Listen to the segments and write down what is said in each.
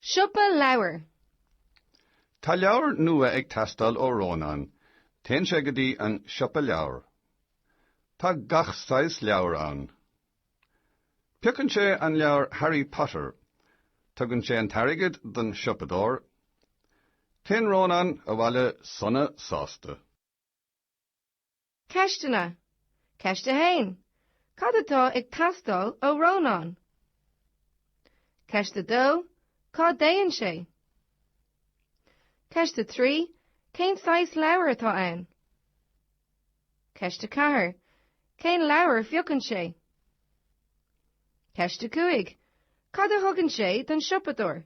Siopa Leabhar. Tá leabhar nua ag teastáil ó Rónán. Téann sé go dtí an Siopa Leabhar. Tá gach saghas leabhar ann. Piocann sé an leabhar Harry Potter. Tugann sé an t-airgead don siopadóir. Téann Rónán abhaile sona sásta. Ceisteanna, Ceist 1, Cad atá ag teastáil ó Rónán? Ceist 2, Cá dtéann sé? Ceist 3, Cén saghas leabhar atá ann? Ceist 4, Cén leabhar a phiocann sé? Ceist 5, Cad a thugann sé don siopadóir?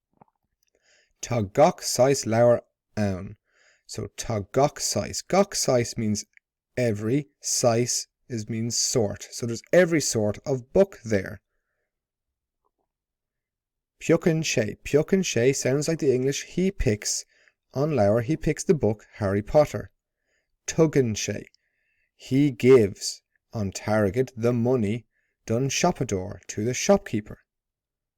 Tá gach saghas leabhar ann. So tá gach saghas. Gach saghas means every, saghas is means sort. So there's every sort of book there. Piocann sé, piocann sé sounds like the English he picks an leabhar, he picks the book Harry Potter. Tugann sé, he gives an t-airgead the money don siopadóir, to the shopkeeper.